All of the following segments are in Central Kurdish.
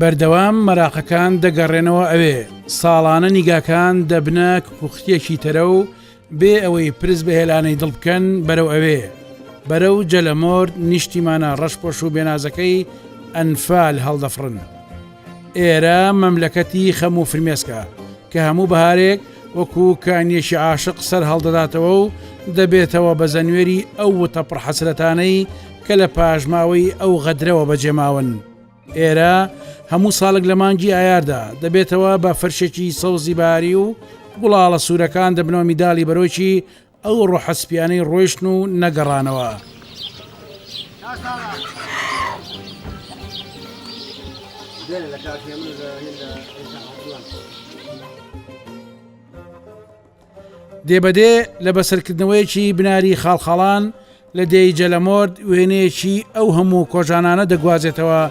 بەردەوام مەراقەکان دەگەڕێنەوە ئەوێ ساڵانە نیگاکان دەبنە کوختیەکی تەرە و بێ ئەوەی پرس بە هێلانەی دڵ بکەن بەرەو ئەوێ بەرە و جەلەمۆرد نیشتیمانە ڕەشپۆش و بێنازەکەی ئەنفال هەڵدەفرن. ئێرە مەملەکەتی خەم و فرمێسکە کە هەموو بەهارێک وەکو کانیەکی عاشق سەر هەڵدەداتەوە و دەبێتەوە بە زەنوێری ئەو وتە پڕ حەسرەتانەی کە لە پاشماوەی ئەو غەدرەوە بەجێماون. ئێرە هەموو ساڵک لە مانگی ئایاردا دەبێتەوە بە فەرشێکی سەوزی باری و گوڵاڵە سوورەکان دەبنەوە میداڵی بەرۆکی ئەو ڕۆحە سپیانەی ڕۆیشتن و نەگەڕانەوە. دێ بە دێ لە بەسەرکردنەوەیەکی بناری خاڵخاڵان، لە دێی جەلەمۆرد وێنەیەکی ئەو هەموو کۆژانانە دەگوازێتەوە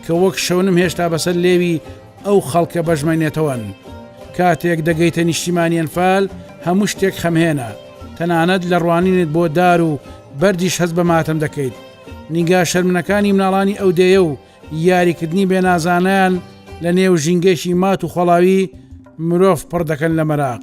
کە وەک شەونم هێشتا بەسەر لێوی ئەو خەڵکە بەژمەنێتەوەن. کاتێک دەگەیتە نیشتیمانی ئەنفال هەموو شتێک خەمهێنە، تەنانەت لە ڕوانینت بۆ دار و بەردیش هەست بە ماتەم دەکەیت. نیگا شەرمنەکانی مناڵانی ئەو دێیە و یاریکردنی بێنازانەیان لەنێو ژینگەیەکی مات و خۆڵاوی مرۆڤ پڕ دەکەن لە مەراق.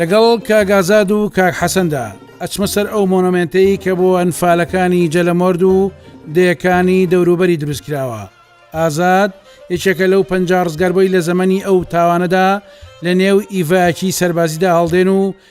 لەگەڵ کاک ئازاد و کاک حەسەندا ئەچمە سەر ئەو مۆنۆمنتەی کە بۆ ئەنفالەکانی جەلەمۆرد و دەیەکانی دەوروبەری دروست کراوە ئازاد یەکێکە لەو پەنج ڕزگاربووی لە زەمەنی ئەو تاوانەدا لە نێو ئیڤکی سەربازیدا هەڵدێن و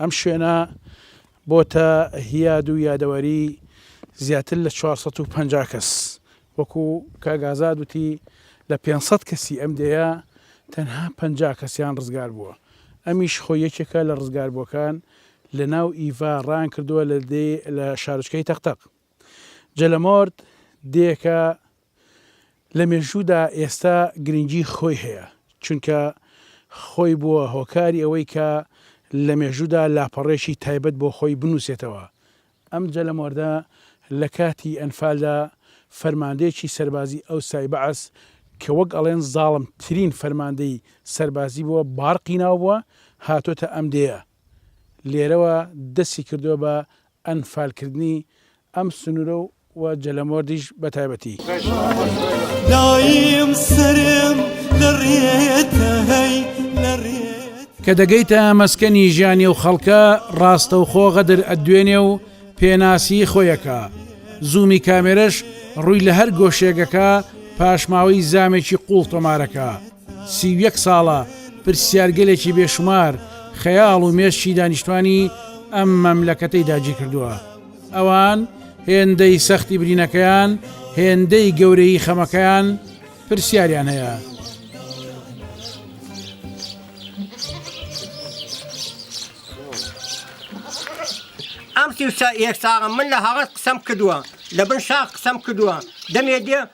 ئەم شوێنە بۆتە هیاد و یادەوەری زیاتر لە چوار سەد و پەنجا کەس، وەکو کاک ئازاد وتی لە پێنج سەد کەسی ئەم دێیە تەنها پەنجا کەسیان ڕزگار بووە، ئەمیش خۆی یەکێکە لە ڕزگاربووەکان لە ناو ئیڤا ڕایان کردووە لە دێی لە شارۆچکەی تەق تەق جەلەمۆرد دێیەکە لە مێژوودا ئێستا گرنگی خۆی هەیە، چونکە خۆی بووە هۆکاری ئەوەی کە لە مێژوودا لاپەڕەیەکی تایبەت بۆ خۆی بنووسێتەوە. ئەم جەلەمۆردە لە کاتی ئەنفالدا فەرماندەیەکی سەربازی ئەوسای بەعس کە وەک ئەڵێن زاڵم ترین فەرماندەی سەربازی بووە بارقی ناو بووە هاتۆتە ئەم دێیە لێرەوە دەستی کردووە بە ئەنفالکردنی ئەم سنوورە و و جەلەمۆردیش بە تایبەتی. کە دەگەیتە مەسکەنی ژیانی ئەو خەڵکە ڕاستەوخۆ غەدر ئەتدوێنێ و پێناسیی خۆی ئەکا، زوومی کامێرەش ڕووی لە هەر گۆشێک ئەکا پاشماوەی زامێکی قووڵ تۆمار ئەکا، سی و یەک ساڵە پرسیارگەلێکی بێشومار خەیاڵ و مێشکی دانیشتوانی ئەم مەملەکەتەی داگیرکردووە. ئەوان هێندەی سەختی برینەکەیان، هێندەی گەورەیی خەمەکەیان پرسیاریان هەیە. ئەم سی و یەک ساڵە من لە هەڵەت قسەم کردووە، لەبن شاخ قسەم کردووە، دەمێ دێ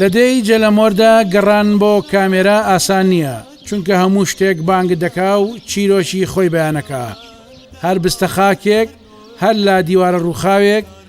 لە دێی جەلەمۆردا گەڕان بۆ کامێرا ئاسان نییە چونکە هەموو شتێک بانگ دەکا و چیرۆکی خۆی بەیانەکە هەر بستە خاکێک هەر لا دیوارە ڕووخاوێک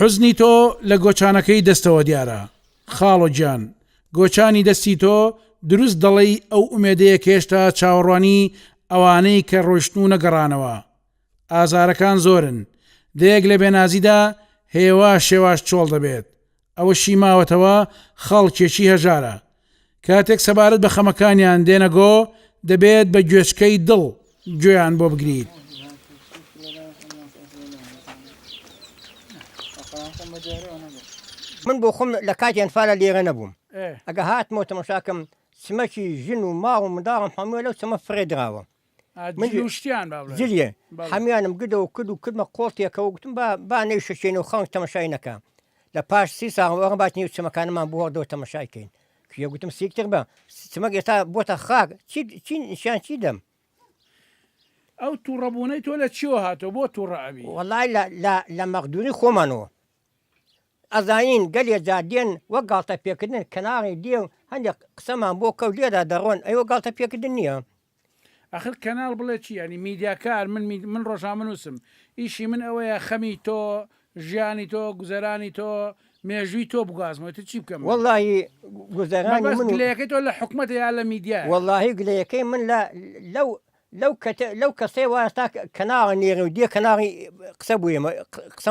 حوزنی تۆ لە گۆچانەکەی دەستەوە دیارە خاڵۆ گیان گۆچانی دەستی تۆ دروست دەڵێی ئەو ئومێدەیە کێشتا چاوەڕوانی ئەوانەی کە ڕۆشتن و نەگەڕانەوە ئازارەکان زۆرن دەیەک لە بێنازیدا هێوا شێواش چۆڵ دەبێت ئەوەشی ماوەتەوە خەڵکێکی هەژارە کاتێک سەبارەت بە خەمەکانیان دێنە گۆ دەبێت بە گوێچکەی دڵ گوێیان بۆ بگریت. من بۆ خۆم لە کاتی ئەنفالە لێرە نەبووم ئەگە هاتمەوە تەمەشاکەم چمەکی ژن و ماڵ و منداڵم هەمووە لەو چەمە فڕێ دراوە جلیێ هەمیانم گدەوە کرد و کردمە قۆڵتێکەوە گوتم بە با نەیشەچێن و خەڵک تەمەشای نەکە لە پاش سی ساڵەوە بات نیو چمەکانمان بووە دۆ تەمەشایکەین کێ گوتم سیکتێک بە چمەک ئێستا بۆتە خاک چیان چی دەم ئەو تووڕەبوونەی تۆ لە چیەوە هاتۆ بۆ تووڕەبی وڵای لە مەقدونی خۆمانەوە ئەزانین گەلێ جادێن وە گاڵتە پێکردن کەناڵی دێ و هەندێک قسەمان بۆ کەوت لێدا دەڕۆن ئەوە گاڵتە پێکردن نییە ئەخر کەناڵ بڵێ چی یانی میدیاکار من من ڕۆژنامەنووسم ئیشی من ئەوەیە خەمی تۆ ژیانی تۆ گوزەرانی تۆ مێژووی تۆ بگازمەوە تر چی بکەم واللهی گوزەرانی بەس من و- گلەیەکەی تۆ لە حکومەتە یا لە میدیا واللهی گلەیەکەی من لە لەو لەو کەتە لەو کەسەی وایە تا کەناڵی نێرە و دێ کەناڵی قسە بۆ ئێمە قسە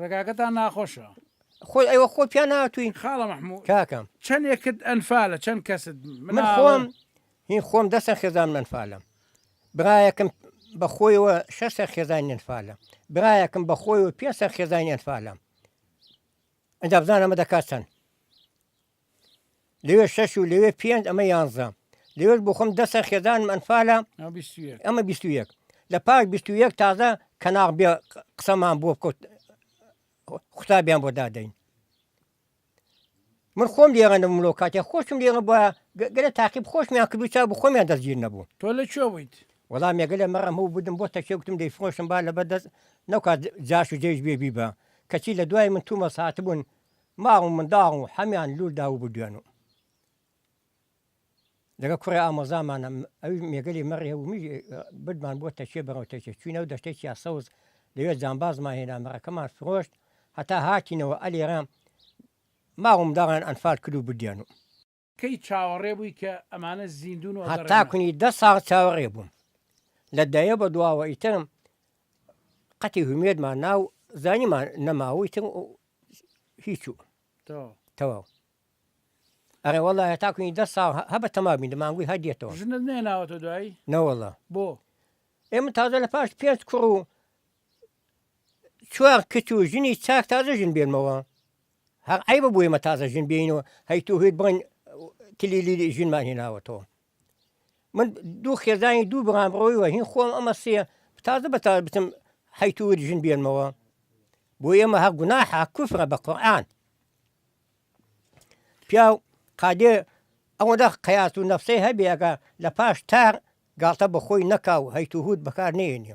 ڕێگاکەتان ناخۆشە خۆی ئەوە خۆ پیا ناتوین خاڵە مححموو کاکەم چەندێکت ئەنفالە چەند کەست من خۆم هی خۆم دەسە خێزان منفالم برایەکەم بە خۆیەوە شەسە خێزانی ئەنفالە برایەکەم بە خۆی و پێسە خێزانی ئەنفالە ئەدا بزانەمە دەکات چەند لەوێ شەش و لەوێ پێنج ئەمە یانزە لەوێش بۆ خۆم دەسە خێزانم ئەنفالە ئەمە بیست و یەک لە پاش بیست و یەک تازە کەناغ بێ قسەمان بۆ بکەوت قوتابیان بۆ دادەین من خۆم لێغەنە ملۆ کاتێ خۆشم لێغە بە گەرە تاقیب خۆشمیان کردو چا بۆ خۆمیان دەستگیر نەبوو تۆ لە چۆ بوویت وەڵام مێگەلە مەڕەم هەوو بدم بۆ تەکێوتم دەی فۆشم با لە بەدەست نەکات جاش و جێش بێبی بە کەچی لە دوای من تومە ساعت بوون ماڵ و منداڵ و حەمیان لور داوو بو دوێن و لەگەڵ کوڕێ ئامۆزامانە ئەوی مێگەلی مەڕێ و میژ بردمان بۆ تەکێ بەرەو تەکێ چوینە و دەشتێکی یاسەوز لەوێ جامبازمان هێنا مەڕەکەمان فرۆشت هەتا هاتینەوە ئەلێرە ماڵ و منداڵیان ئەنفال کرد و بردیان و کەی چاوەڕێ بووی کە ئەمانە زیندوون و ئەگەڕێنەوە؟ هەتا کونی دە ساڵ چاوەڕێ بووم. لە دەیە بە دواوە ئیتر قەتی هومێدمان نا و زانیمان نەماوە و ئیتر هیچ و تەواو. ئەرێ وەڵا هەتا کونی دە ساڵ هە بە تەما بین دەمانگوی هەر دێتەوە. ژنت نێناوەتە دوایی؟ نەوەڵا. بۆ؟ ئێمە تازە لە پاش پێنج کوڕ و چوار کچ و ژنی چاک تازە ژن بێنمەوە. هەق عەیبە بۆ ئێمە تازە ژن بێین و هەی تۆ هێت بڵێن کلیلی ژنمان هێناوەتەوە من دوو خێزانی دوو بڕام ڕۆی وە هین خۆم ئەمە سێ تازە بە تا بچم هەی تۆ هێت ژن بێنمەوە بۆ ئێمە هە گوناحە کوفرە بە قورئان پیاو قادێ ئەوەندە قیاس و نەفسەی هەبێگە لە پاش تار گاڵتە بە خۆی نەکا و هەیتوهوت بەکار نێنێ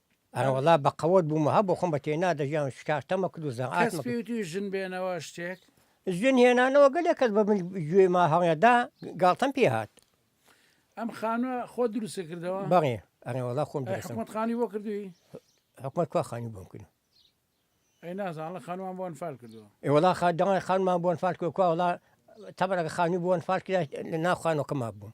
ئەرەوەڵا بە قەوەت بوومە هە بۆخۆم بە تێنا دەژیان شکار تەمە کرد و زە ئاست پێوتوی ژن بێنەوە شتێک ژن هێنانەوە گەلێک کەس بە من گوێ ما هەڵێدا گاڵتەم پێ هاات ئەم خانوە خۆ دروستە کردەوە بەڵێ ئەرەوەڵا خۆم حکومت خانی بۆ کردوی حکومت کوا خانی بۆم کرد ئەی نازانڵە خانوان بۆن فال کردەوە ئێوەڵا خا دەڵێ خانمان بۆن فال کردکوواڵا تەبەرەکە خانی بۆن فال کرد لە ناخوانەکەما بووم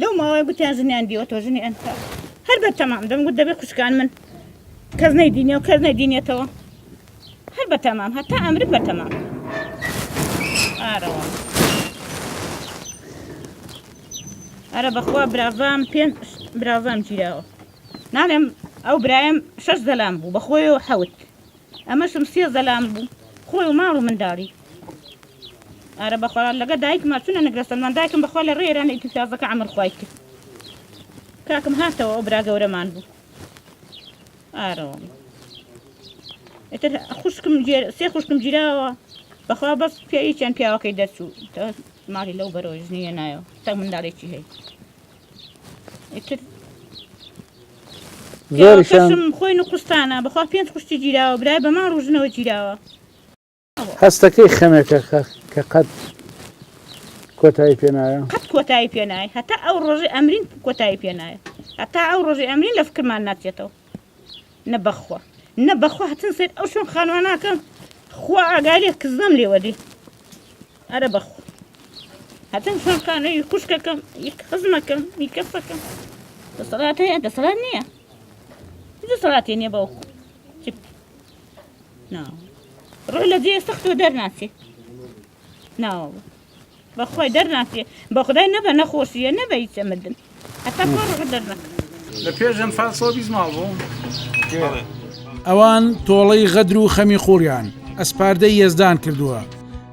لەو ماوەیە گوتیان ژنیان دیوەتەوە ژنی ئەنفا هەر بە تەمام دەم گوت دەبێ خوشکان من کەس نەیدینێ و کەس نەدینێتەوە هەر بە تەمام هەتا ئەمرم بە تەمام ئارەوە ئەرە بەخوا براڤام پێ براڤام گیراوە ناڵێم ئەو برایم شەش دەلام بوو بەخۆی و حەوت ئەمەشم سێ زەلام بوو خۆی و ماڵ و منداڵی. ئارە بەخۆرا لەگە دایکما چونە نگرە سەلمان دایکم بەخوا لە ڕێ ئێرانە ئیتر فیازەکە عەمر خوای کرد کاکم هاتەوە ئەو برا گەورەمان بوو ئارەوە ئیتر خوشکم جێر سێ خوشکم گیراوە بەخوا بەس پێی چەند پیاوەکەی دەرچوو ماڵی لەو بەرەوە ژنیە نایەوە تەک منداڵێکی هەیە زۆرشم خۆی نقستانە بەخوا پێنج خوشتی گیراوە برای بەمان ڕژنەوە گیراوە هەستەکەی خەمێکە کە قەت کۆتایی پێنایە قەت کۆتایی پێنای هەتا ئەو ڕۆژی ئەمرین کۆتایی پێنایە هەتا ئەو ڕۆژی ئەمرین لە فکرمان ناچێتەوە نە بەخوا نە بەخوا هەتن سەر ئەو شوێن خانواناکە خوا ئاگالێ کزدەم لێوەدی ئەرە بەخوا هەتن شوێن خانووی خوشکەکەم یەک خزمەکەم میکەسەکەم دەسەڵات هەیە دەسەڵات نییە دەسەڵاتی نییە بەو ڕۆ لە جێ سەختەوە دەرناچێت ناوە بەخوای دەرناچێ بەخدای نەبە نەخۆشیە نەبە هیچە مردن هەتا خۆ ڕوحت دەرنەکە لە پێش ئەنفال سەد و بیست ماڵ بوو ئەوان تۆڵەی غەدر و خەمی قووڵیان ئەسپاردەی یەزدان کردووە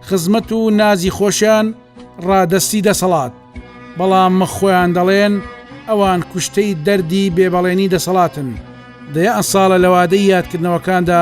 خزمەت و نازی خۆشیان ڕادەستی دەسەڵات بەڵام مە خۆیان دەڵێن ئەوان کوشتەی دەردی بێبەڵێنی دەسەڵاتن دەیان ساڵە لەوادەی یادکردنەوەکاندا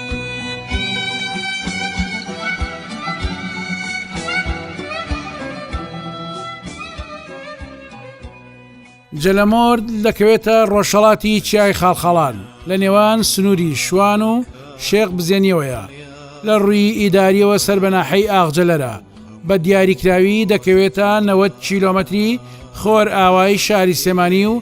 جەلەمۆرد دەکەوێتە ڕۆژهڵاتی چیای خاڵخاڵان لە نێوان سنووری شوان و شێخ بزێنیەوەیە لە ڕووی ئیداریەوە سەر بەناحەی ئاغجلەرە بە دیاریکراوی دەکەوێتە 90 کیلومتری خۆر ئاوای شاری سێمانی و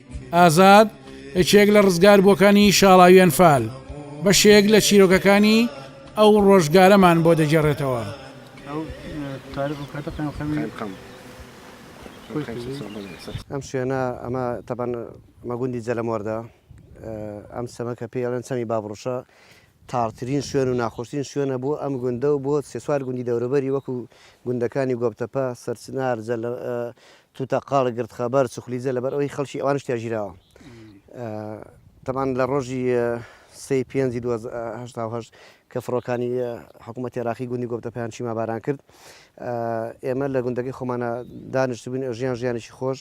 ئازاد یەکێک لە ڕزگاربووەکانی شاڵاوی ئەنفال، بەشێک لە چیرۆکەکانی ئەو ڕۆژگارەمان بۆ دەگێڕێتەوە. ئەم شوێنە ئەمە تەبەن ئەمە گوندی جەلەمۆردە، ئەم چەمە کە پێی ئەڵێن چەمی بابڕوشە تاڕترین شوێن و ناخۆشترین شوێنە بۆ ئەم گوندە و بۆ سێ چوار گوندی دەوروبەری وەکو گوندەکانی گۆپتەپە، سەرچنار، توتە قاڵ گرد خەبەر چوخلیجە لەبەر ئەوەی خەڵکی ئەوانش تیا ژیراوە تەبان لە ڕۆژی سێ پێنجی دو هەشتا و هەشت کە فڕۆکانی حکوومەتی عراقی گوندی گۆپتە پێیان چیما باران کرد ئێمە لە گوندەکەی خۆمانە دانیشت بووین ژیان ژیانێکی خۆش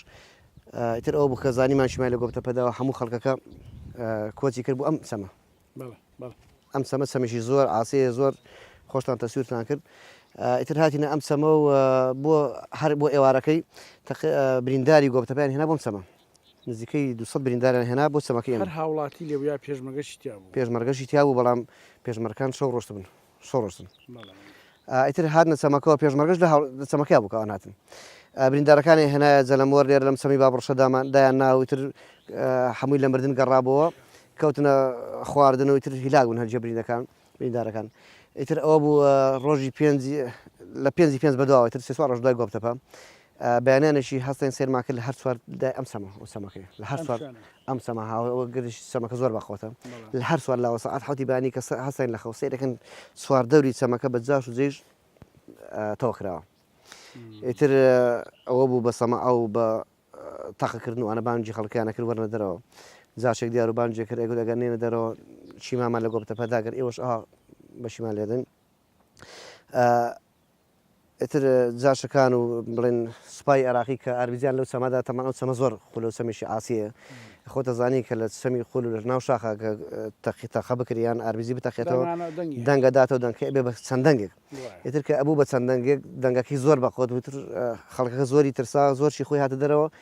ئیتر ئەو بکە زانیمان شیمای لە گۆپتە پەداوە هەموو خەڵکەکە کۆچی کرد بۆ ئەم سەمە بەڵێ بەڵێ. ئەم چەمە چەمێکی زۆر عاسەیە زۆر خۆشتان تەسویرتان کرد ئیتر هاتینە ئەم چەمە و بۆ هەر بۆ ئێوارەکەی برینداری گۆبتەپیان هێنا بۆم چەمە نزیکەی 200 برینداران هێنا بۆ چەمەکە هەر هاوڵاتی لێبیا پێشمەگەشی تیا بوو پێشمەرگەشی تیا بوو بەڵام پێشمەرکان شەو ڕۆشت بن سۆڕۆسن ئا ئیتر هاتنە چەمەکەوە پێشمەرگەش لە هەڵ لە چەمەکەیا بوو کە ئەوان هاتن ئا بریندارەکانیان هێنایە جەلەمۆر لێرە لەم چەمی بابڕشە دامان دایان نا و ئیتر ئا هەمووی لە مردن گەڕابۆوە کەوتنە خواردن و ئیتر هیلاک بوون هەرجێ برینەکان بریندارەکان ئیتر ئەوە بوو ئا ڕۆژی پێنجی لە پێنجی پێنج بەدواوە ئیتر سێ چوار ڕۆژ دوای گۆپتەپە بەیانیانێکی هەستین سەیرمان کرد لە هەر چوار لای ئەم چەمە و چەمەکەی لە هەر چوار ئەم چەمە ها و گردیش چەمەکە زۆر بەخۆتە لە هەر چوار لاوە سەعات حەوتی بەیانی کە هەستین لە خەو سەیرەکەن چوار دەوری چەمەکە بە جاش و جێژ تەوە کراوە ئیتر ئەوە بوو بە سەما ئەو بە تەقەکردن و ئەە بانجی خەڵکیانە کرد وەرنە دەرەوە جاشێک دیار و بانجێ کرد ئەگوت ئەگەر نێنە دەرەوە چیمامان لە گۆپتە پەداگەر ئێوەش ئا بەشیمان لێدن ئیتر جاشەکان و بڵێن سوپای عێراقی کە ئاربیجیان لەو چەمەدا تەمان ئەو چەمە زۆر قولە و چەمێکی عاسیە خۆت ئەزانی کە لە چەمی قول و لە ناو شاخا کە تەقی تەقە بکری یان ئاربیجی بتەقێتەوە دەنگە داتەوە دەنگکە ئەبێ بە چەند دەنگێک ئیتر کە ئەبوو بە چەند دەنگێک دەنگەکەی زۆر بە قوت بوو تر خەڵکەکە زۆری ترسا زۆر شی خۆی هاتە دەرەوە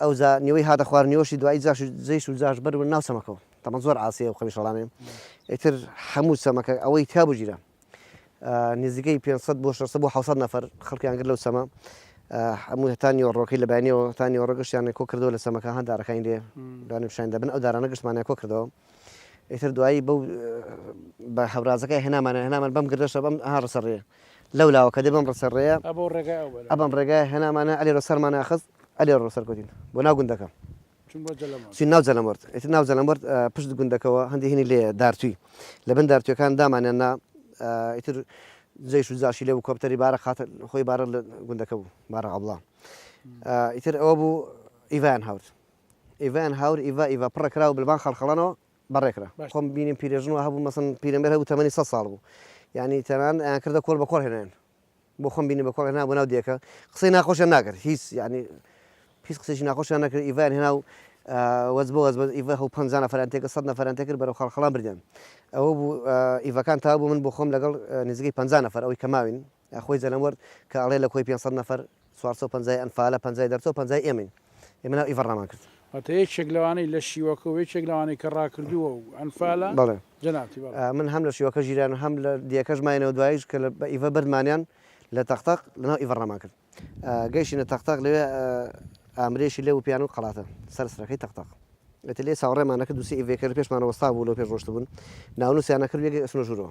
ئەوجا نیوەی هاتە خوار نیوەشی دوایی جاش و جەیش و جاش بەر بوون ناو چەمەکەوە تەمەن زۆر عاسیە ئەو قەمیشەڵانەی ئیتر هەموو چەمەکە ئەوەی تیا بگیرا نزیکەی 500 بۆ 600 بۆ 600 نەفەر خەڵکیان گر لەو چەمە هەموو هەتا نیوەڕۆکەی لە بەیانیەوە هەتا نیوەڕۆ گەشتیانە کۆ کردەوە لە چەمەکە هەن دارەکانی لێ دوانی پیشان دەبن ئەو دارانە گشتمانە کۆ کردەوە ئیتر دوایی بەو بە هەورازەکە هێنامانە هێنامان بەم گردەشە بەم ها ڕسەڕێ لەو لاوە کە دێ بەم ڕسە ڕێیە ئەبەم ڕێگایە هێنامانە ئەلێ ڕۆ سەرمانە خست ئەلێ ڕۆ سەرکوتین بۆ ناو گوندەکە چین ناو جەلەمەرد ئێت ناو جەلەمەرد پشت گوندەکەەوە هەندی هینی لێ دارتوی لە بن دارتوەکان دامانیان نا ئیتر جێش و جاشی لێ و کۆپتەری بارە خاتە خۆی بارە لە گوندەکە بوو بارە عبڵا ئیتر ئەوە بوو ئیڤان هاورد ئیڤان هاور ئیڤ ئیڤ پڕەکراوە بلبان خەڵخەڵەنەوە بە ڕێکرا خۆم بینیم پیرێژن وا هەبوو مەسەن پیرەمێر هەبوو تەمەنی سەد ساڵ بوو یعنی تەنان ئەیان کردە کۆڵ بە کۆڵ هێنایان بۆ خۆم بینی بە کۆڵ هێنا بۆ ناو دێکە قسەی ناخۆشیان ناکرد هیچ یعنی هیچ قسەی ناخۆشیان نەکرد ئیڤیان هێنا و وەز بۆ وەز بەز ئیڤە هەو پەنجا نەفەران تێکە سەد نەفەران تێکرد بەرەو خەڵخەڵان بردیان ئەوە بوو ئیڤەکان تا بوو من بۆ خۆم لەگەڵ نزیکەی پەنجا نەفەر ئەوەی کە ماوین خۆی جەلەموەر کە ئەڵێ لە کۆی پێنج سەد نەفەر چوار سەد و پەنجا ی ئەنفالە پەنجا ی دەرچوە پەنجا ی ئێمەین ئێمە ناو ئیڤە ڕامان کرد. واتە یەکێک لەوانەی لە شیوەکە و یەکێک لەوانەی کە ڕاکردووە و ئەنفالە بەڵێ جەنابتی بەڵێ. من هەم لە شیوەکە ژیران و هەم لە دیەکەش ماینەوە دواییش کە لە بە ئیڤە بردمانیان لە تەق تەق لە ناو ئیڤە ڕامان کرد گەیشتینە تەق تەق لەوێ ئامرێشی لێ وپیان و قەڵاتە سەر سرەکەی تەق تەق ئێتر لێ چاوەڕێمان ئەکرد دوو سێ ئیڤەی کە لە پێشمانەوە وەستا بوو لەو پێش ڕۆشتبوون ناونوسیان ئەکرد و یەکێک ئەچونە ژورەوە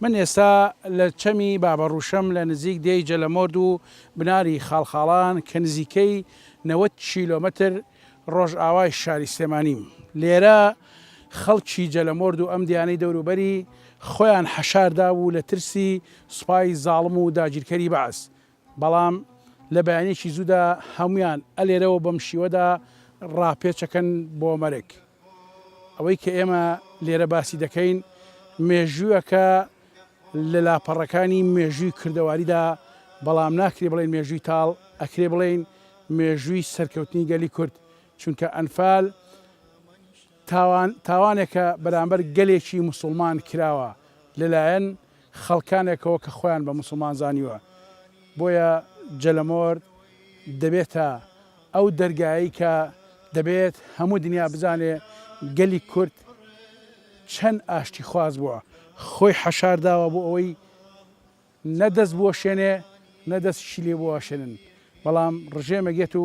من ئێستا لە چەمی بابەڕووشەم لە نزیک دێی جەلەمۆرد و بناری خاڵخاڵان کە نزیکەی نەوەد کیلۆمەتر ڕۆژئاوای شاری سلێمانیم. لێرە خەڵکی جەلەمۆرد و ئەم دێیانەی دەوروبەری خۆیان حەشار دابوو لە ترسی سوپای زاڵم و داگیرکەری بەعس بەڵام لە بەیانێکی زوودا هەموویان ئەلێرەوە بەم شیوەدا ڕاپێچەکەن بۆ مەرگ. ئەوەی کە ئێمە لێرە باسی دەکەین مێژووەکە لە لاپەڕەکانی مێژووی کردەواریدا بەڵام ناکرێ بڵێین مێژووی تاڵ ئەکرێ بڵێین مێژووی سەرکەوتنی گەلی کورد چونکە ئەنفال تاوان تاوانێکە بەرامبەر گەلێکی موسڵمان کراوە لەلایەن خەڵکانێکەوە کە خۆیان بە موسڵمان زانیوە بۆیە جەلەمۆر دەبێتە ئەو دەرگایەی کە دەبێت هەموو دنیا بزانێ گەلی کورد چەن ئاشتی خواز بووە خۆی حەشار داوە بۆ ئەوەی نە دەست بوەشێنێ نە دەستیشی لێ بوەشێنن بەڵام ڕژێمێک یەت و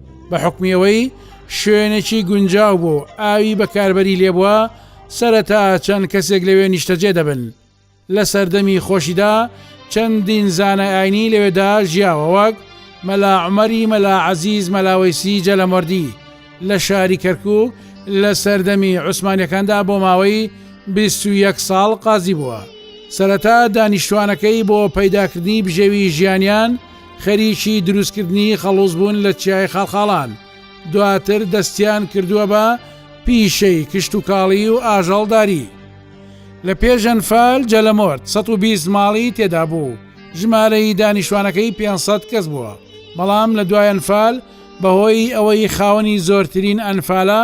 بە حکومی ئەوەی شوێنێکی گونجاو بۆ ئاوی بەکاربەری لێبووە سەرەتا چەند کەسێک لەوێ نیشتەجێ دەبن لە سەردەمی خۆشیدا چەندین زانای ئاینی لەوێدا ژیاوە وەک مەلا عمەری مەلا عزیز مەلاوەیسی جەلەمەردی لە شاری کەرکک لە سەردەمی عوسمانەکاندا بۆ ماوەی 21 ساڵ قازی بووە سەرەتا دانیشتوانەکەی بۆ پەیداکردنی بژێوی ژیانیان خەریکی دروستکردنی خەڵوز بوون لە چیای خاڵخاڵان، دواتر دەستیان کردووە بە پیشەی کشتوکاڵی و ئاژەڵداری. لە پێشەنفال جەلەمۆرد سەد و بیست ماڵی تێدا بوو، ژمارەی دانیشتوانەکەی پێنج سەد کەس بووە، بەڵام لە دوای ئەنفال بەهۆی ئەوەی خاوەنی زۆرترین ئەنفالە،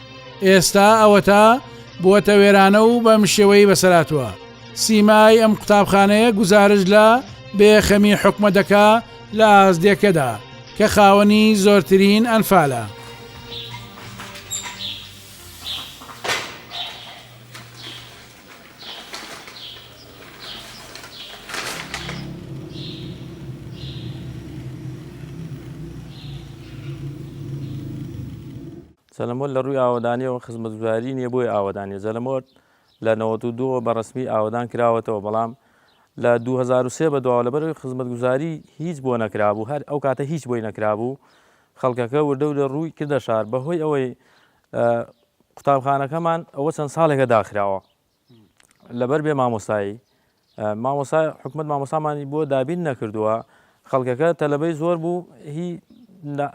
ئێستا ئەوەتا بووەتە وێرانە و بەم شێوەی بەسەراتوە سیمای ئەم قوتابخانەیە گوزارش لە بێخەمی حکومە دەکا لە ئازدێکەدا کە خاوەنی زۆرترین ئەنفالە. زەلەمۆر لە ڕووی ئاوەدانییەوە خزمەتگوزاری نییە بۆیە ئاوەدانە. زەلەمۆر لە نەوەد و دوو ەوە بە ڕەسمی ئاوەدان کراوەتەوە، بەڵام لە دوو هەزار و سێ بەدواوە لەبەرئەوەی خزمەتگوزاری هیچ بۆ نەکرابوو، هەر ئەو کاتە هیچ بۆی نەکرابوو، خەڵکەکە وردەوردە ڕووی کردە شار. بەهۆی ئەوەی قوتابخانەکەمان ئەوە چەند ساڵێکە داخراوە، لەبەر بێ مامۆستایی مامۆسا حکومت مامۆسامانی بۆ دابین نەکردووە خەڵکەکە تەلبەی زۆر بوو هی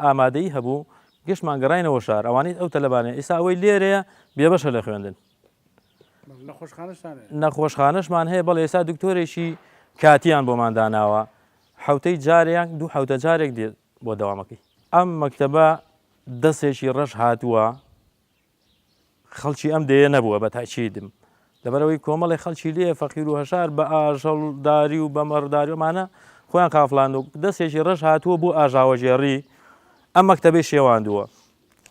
ئامادەی هەبوو گشتمان گەڕینەوە شار ئەوانیت ئەو تەلبانە ئیسا ئەوەی لێرەیە بێبەشە لە خوێندن نەخۆشخانەشمان هەیە بەڵ ئێستا دکتۆرێکی کاتیان بۆمان داناوە حوتەی جارێک دوو حوتە جارێک دێت بۆ دەوامەکەی ئەم مەکتتەبە دەستێکی ڕەش هاتووە خەڵکی ئەم دێیە نەبووە بە تەئکیدم لەبەرەوەی کۆمەڵی خەڵکی لێ فەقیر و هەژار بە ئاژەڵ داری و بە مەڕداری ئەمانە خۆیان قافڵان و دەستێکی ڕەش هاتووە بۆ ئاژاوەگێڕی ئەم مەکتەبەی شێواندووە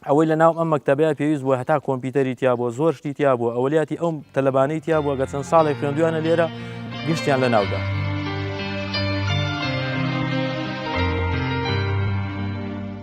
ئەوەی لە ناو ئەم مەکتەبەیە پێویست بووە هەتا کۆمپیوتەری تیا بووە زۆر شتی تیا بووە ئەولیاتی ئەو تەلەبانەی تیا بووە گە چەند ساڵێک خوێندویانە لێرە گشتیان لە ناودا.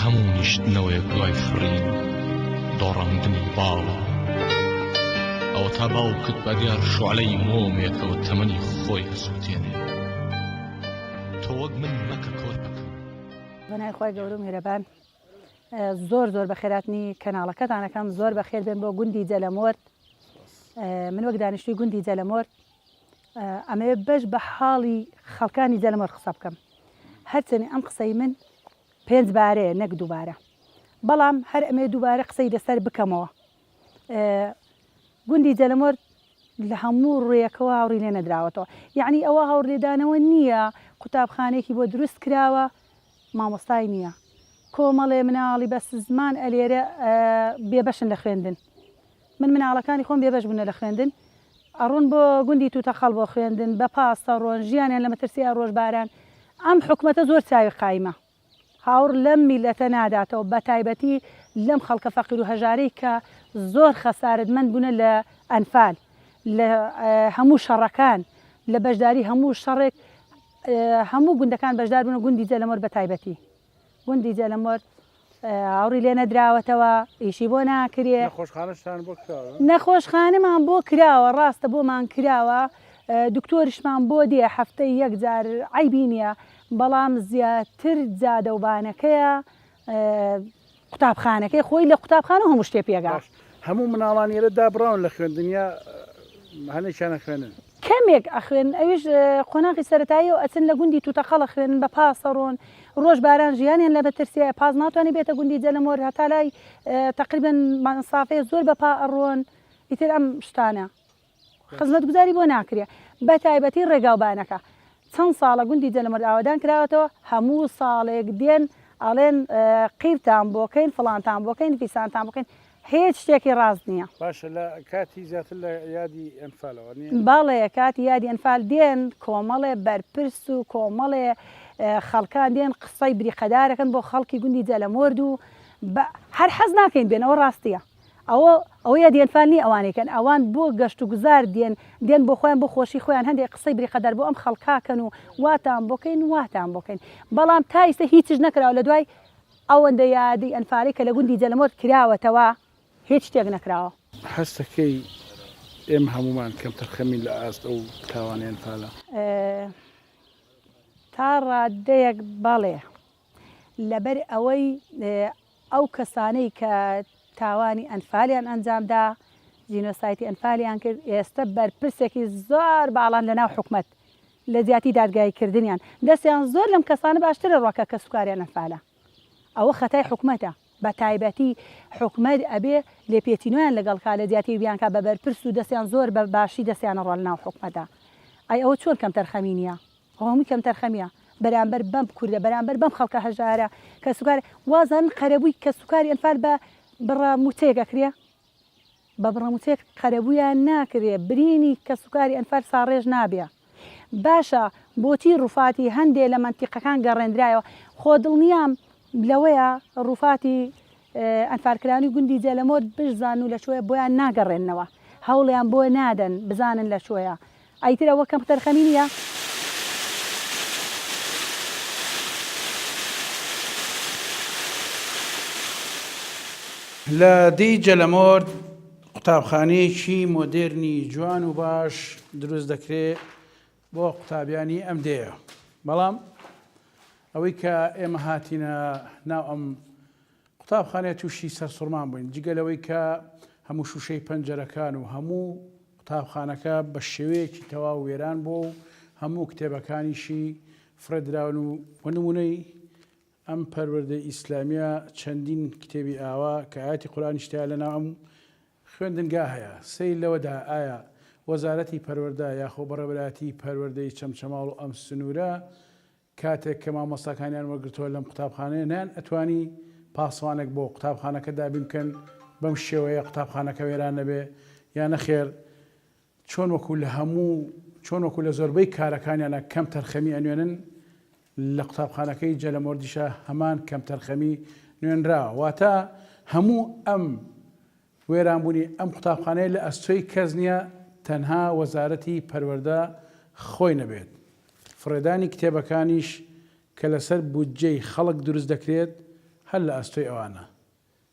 هەموو نیشتنەوەیەک دوای فڕین دۆڕاندنی باڵە ئەوەتا باوکت بەدیار شۆعلەی مۆمێکەوە تەمەنی خۆی ئەسووتێنێ تۆ وەک من مەکە کۆرپەکەم بەنای خۆی گەورە و میرەبان زۆر زۆر بە خێراتنی کەناڵەکەتانەکەم زۆر بە خێر بێن بۆ گوندی جەلەمۆرد من وەک دانیشتوی گوندی جەلەمۆرد ئەمەوێت بەش بە حاڵی خەڵکانی جەلەمەر قسە بکەم. هەرچەنی ئەم قسەی من پێنج بارەیە نەک دووبارە. بەڵام هەر ئەمەوێت دووبارە قسەی لەسەر بکەمەوە. گوندی جەلەمەر لە هەموو ڕوویەکەوە هاوڕی لێ نەدراوەتەوە. یەعنی ئەوە هاوڕلێدانەوە نییە قوتابخانەیەکی بۆ دروست کراوە مامۆستای نییە. کۆمەڵێ مناڵی بەس زمان ئەلێرێ بێبەشن لە خوێندن. من مناڵەکانی خۆم بێبەش بونە لە خوێندن ئەڕۆن بۆ گوندی توتەقەڵ بۆ خوێندن بە پاس ئەڕۆن ژیانیان لە مەترسیە ڕۆژ باران ئەم حکومەتە زۆر چاوی قایمە هاوڕ لەم میلەتە ناداتەوە بە تایبەتی لەم خەڵکە فەقیرو هەژارەی کە زۆر خەسارەت مەند بونە لە ئەنفال لە هەموو شەڕەکان لە بەشداری هەموو شەڕێک هەموو گوندەکان بەشدار بونە گوندی جەلەمۆر بە تایبەتی. گوندی جەلمورد ئاوڕی لێ نەدراوەتەوە ئیشی بۆ ناکرێ نەخۆشخانەشتان بۆ کراوە نەخۆشخانەمان بۆ کراوە ڕاستە بۆمان کراوە دکتۆرشمان بۆ دێ هەفتەی یەک جار عیبی نییە بەڵام زیاتر جادەوبانەکەیە قوتابخانەکەی خۆی لە قوتابخانە هەموو شتێ پێگا. باش هەموو مناڵان ئێرە دابڕاون لە خوێندن یا هەنێکیان ئەخوێنن؟ کەمێک ئەخوێنن ئەویش قۆناغی سەرەتایی و ئەچن لە گوندی توتەقەڵ ئەخوێنن بە پاس ئەڕۆن ڕۆژ باران ژیانیان لە مەترسییە پاس ناتوانێ بێتە گوندی جەلەمۆر هەتا لای تەقریبەن مەسافەیە زۆر بە پا ئەڕۆن ئیتر ئەم شتانە. خزمەتگوزاری بۆ ناکرێ بەتایبەتی ڕێگاوبانەکە چەند ساڵە گوندی جەلەمەرد ئاوەدان کراوەتەوە هەموو ساڵێک دێن ئەڵێن قیرتان بۆکەین فڵانتان بۆکەین فیسانتان بکەین هێچ شتێکی ڕاست نییە. باشە لە کاتی زیاتر لە یادی ئەنفالەوە نییە؟ بەڵێ کاتی یادی ئەنفال دێن کۆمەڵێ بەرپرس و کۆمەڵێ خەڵکان دێن قسەی بریقەدارەکەن بۆ خەڵکی گوندی جەلەمۆرد و هەر حەز ناکەین بێن ئەوە ڕاستییە. ئەوە ئەوە یە دێن فال نی ئەوانەی کەن ئەوان بۆ گەشت و گوزار دێن دێن بۆ خۆیان بۆ خۆشی خۆیان هەندێک قسەی بریقەدار بۆ ئەم خەڵکا کەن و واتان بۆ کەین واتان بۆ کەین بەڵام تا ئیستە هیچش نەکراوە لە دوای ئەوەندە یادی ئەنفالەی کە لە گوندی جەلمۆرد کراوەتەوە هیچ شتێک نەکراوە. هەستەکەی ئێمە هەموومان کەم تەرخەمین لە ئاست ئەو تاوانە ئەنفالە. تا ڕادەیەک بەڵێ. لەبەر ئەوەی ئەو کەسانەی کە تاوانی ئەنفالیان ئەنجامدا، جینۆسایتی ئەنفالیان کرد، ئێستە بەرپرسێکی زۆر باڵان لەناو حکومەت، لە جیاتی دادگاییکردنیان، دەستیان زۆر لەم کەسانە باشتر دەڕوات کە کەسوکاریان ئەنفالە. ئەوە خەتای حکومەتە، بەتایبەتی حکومەت ئەبێ لێپێچینۆیان لەگەڵ کا، لە جیاتی بیانکا بە بەرپرس و دەستیان زۆر بە باشی دەستیان ئەڕوا لەناو حکومەتا. ئەی ئەوە چۆن کەمتەرخەمی نییە؟ قەومی کەمتەرخەمیە بەرامبەر بەم کوردە بەرامبەر بەم خەڵکە هەژارە کەسوکار وازانن قەرەبووی کەسوکاری ئەنفال بە بڕە موچەیەک ئەکرێ؟ بە بڕە موچەیەک قەرەبوویان ناکرێ برینی کەسوکاری ئەنفال ساڕێژ نابێ باشە بۆچی ڕوفاتی هەندێ لە مەنتیقەکان گەڕێندرایەوە خۆ دڵنیام لەوەیە ڕوفاتی ئەنفالکرانی گوندی جەلەمۆر بشزانن و لەکۆیە بۆیان ناگەڕێننەوە هەوڵیان بۆ نادەن بزانن لەکۆیە ئیتر ئەوە کەم تەرخەمی نیە. لە دێی جەلەمۆر قوتابخانەیەکی مۆدێرنی جوان و باش دروست دەکرێ بۆ قوتابیانی ئەم دێیە بەڵام ئەوەی کە ئێمە هاتینە ناو ئەم قوتابخانەیە تووشی سەرسوڕمان بووین جگە لەوەی کە هەموو شوشەی پەنجەرەکان و هەموو قوتابخانەکە بە شێوەیەکی تەواو وێران بۆ و هەموو کتێبەکانیشی فرەدراون و وەنمونەی ئەم پەروەردە ئیسلامیە چەندین کتێبی ئاوا کە ئاەتی قورانیشتیا لە ناو ئەم خوێندنگا هەیە، سەیر لەوەدا ئایا وەزارەتی پەروەردە یاخۆ بەڕێوەبەرایەتیی پەروەردەی چەمچەماڵ و ئەم سنوورە کاتێک کە مامۆستاکانیان وەرگرتووە لەم قوتابخانەیە نەیان ئەتوانی پاسوانێک بۆ قوتابخانەکە دابین بکەن بەم شێوەیە قوتابخانەکە وێران نەبێ یا نەخێر چۆن وەکو لە هەموو چۆن وەکو لە زۆربەی کارەکانیانا کەم تەرخەمی ئەنوێنن لە قوتابخانەکەی جەلەمۆردیشا هەمان کەم تەرخەمی نوێنرا واتە هەموو ئەم وێرانبوونی ئەم قوتابخانەیە لە ئەستۆی کەس نییە تەنها وەزارەتی پەروەردە خۆی نەبێت فڕێدانی کتێبەکانیش کە لەسەر بودجەی خەڵک دروست دەکرێت هەر لە ئەستۆی ئەوانە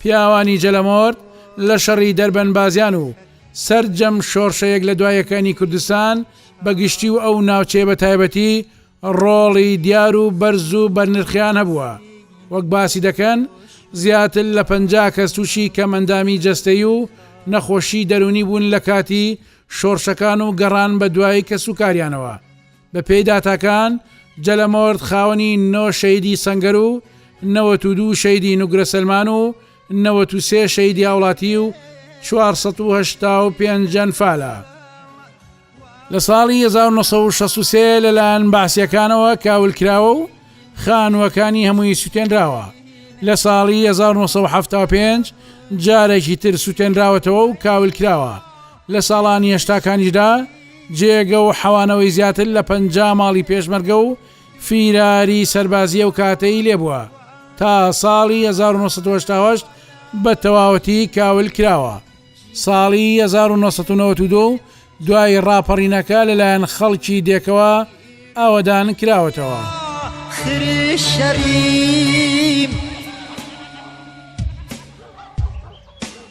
پیاوانی جەلەمۆرد لە شەڕی دەربەن بازیان و سەرجەم شۆڕشە یەک لە دوای یەکەانی کوردستان بە گشتی و ئەو ناوچەیە بە تایبەتی ڕۆڵی دیار و بەرز و بەرنرخیان هەبووە وەک باسی دەکەن زیاتر لە پەنجا کەس تووشی کەمئەندامی جەستەیی و نەخۆشی دەروونی بوون لە کاتی شۆڕشەکان و گەڕان بە دوای کەسوکاریانەوە. بەپێی داتاکان، جەلەمۆرد خاوەنی نۆ شەهیدی سەنگەر و نەوەت و دوو شەهیدی نوگرە سەلمان و نەوەت و سێ شەهیدی هاوڵاتی و چوار سەد و هەشتا و پێنج ئەنفالە. لە ساڵی هەزار و نۆ سەد و شەست و سێ لەلایەن بەعسییەکانەوە کاول کراوە و خانووەکانی هەمووی سووتێنراوە. لە ساڵی هەزار و نۆ سەد و حەفتا و پێنج جارێکی تر سووتێنراوەتەوە و کاول کراوە. لە ساڵانی هەشتاکانیشدا جێگە و حەوانەوەی زیاتر لە پەنجا ماڵی پێشمەرگە و فیراری سەربازی ئەو کاتەی لێبووە تا ساڵی 1970 بە تەواوەتی کاول کراوە ساڵی 1992 دوای ڕاپەڕینەکە لەلایەن خەڵکی دێکەوە ئاوەدان کراوەتەوە.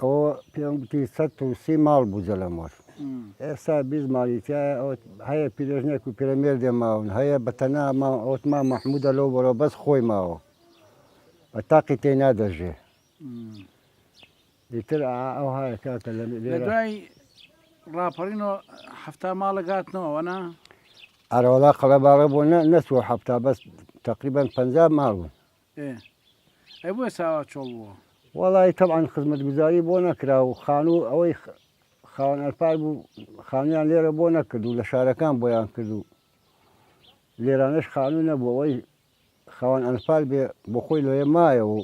ئەوە پێم گوتی سەد و سی ماڵ بوو جەلەمۆر. ئێستا بیست ماڵی تیایە، ئەوت هەیە پیرێژنێک و پیرەمێردێ ماون، هەیە بە تەنها ماون، ئەوت مام مەحموودە لەو بەرەوە بەس خۆی ماوە و تاقی تێینا دەژێ. ئیتر ئەوهایە کاکە لە لێرە. لە دوای ڕاپەڕینەوە حەفتا ماڵێک هاتنەوە ئەوەنا؟ ئەرەوەڵا قەڵەباڵە بۆ نە نەچووە حەفتا بەس تەقریبەن پەنجا ماڵ بوون. ئێ ئەی بۆیە چاوا چۆڵ بووە. وەڵایی تەبعەن خزمەتگوزاری بۆ نەکرا و خانوو ئەوەی خاوەن ئەلپار بوو خانوویان لێرە بۆ نەکرد و لە شارەکان بۆیان کرد و لێرانەش خانوو نەبوو ئەوەی خاوەن ئەلپار بێ بۆخۆی لەوێ مایەوە و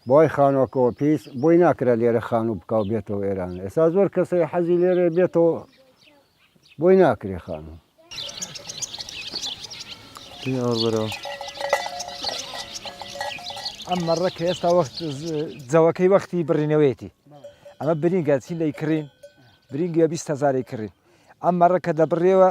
بای خانوە کەوە پیس بۆی ناکرا لێرە خانوو بکا و بێتەوە ئێران ئێستا زۆر کەسەی حەزی لێرە بێتەوە بۆی ناکرێ خانوو ئەم مەڕە کە ئێستا وەخت جەوەکەی وەختی بڕینەوەیەتی ئەمە برینگە چی لی کڕین برینگە بیست هزاری کڕین ئەم مەڕە کە دەبڕێەوە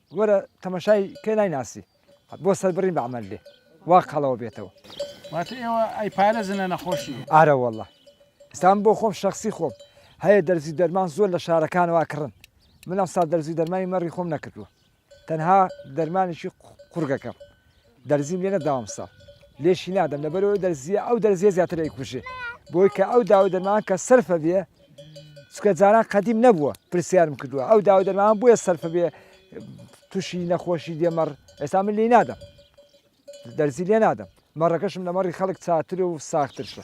وەرە تەمەشای کە نایناسی. بۆ سەربڕین بە عەمەل لێ وا قەڵەوە بێتەوە. واتە ئێوە ئەیپارێزن لە نەخۆشی. ئارە وەڵا ئێستا من بۆ خۆم شەخسی خۆم هەیە دەرزی دەرمان زۆر لە شارەکانەوە ئەکڕن من ئەمساڵ دەرزی دەرمانی مەڕی خۆم نەکردووە تەنها دەرمانێکی قوڕگەکەم دەرزیم لێ نەداوە ئەمساڵ لێشی نادەم لەبەرەوەی دەرزیە ئەو دەرزیە زیاتر ئەیکوژێ بۆی کە ئەو داوای دەرمان کە سەرفە بێ چکە جاران قەدیم نەبووە پرسیارم کردووە ئەو داوای دەرمان بۆیە سەرفە بێ تووشی نەخۆشی دێمەڕ ئێستا من لێ نادەم دەرزی لێ نادەم مەڕەکەشم لە مەڕی خەڵک چاتر و ساخترشە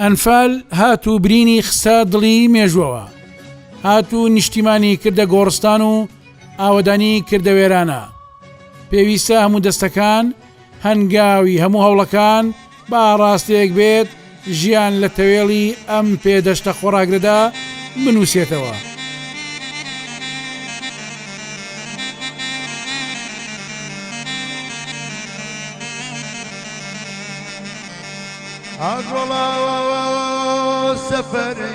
ئەنفال هات و برینی خستە دڵی مێژوەوە هات و نیشتیمانی کردە گۆڕستان و ئاوەدانی کردە وێرانە پێویستە هەموو دەستەکان هەنگاوی هەموو هەوڵەکان با ڕاستێک بێت ژیان لە تەوێڵی ئەم پێ دەشتە خۆڕاگرەدا بنووسێتەوە. ئاژۆڵە سەفەرێ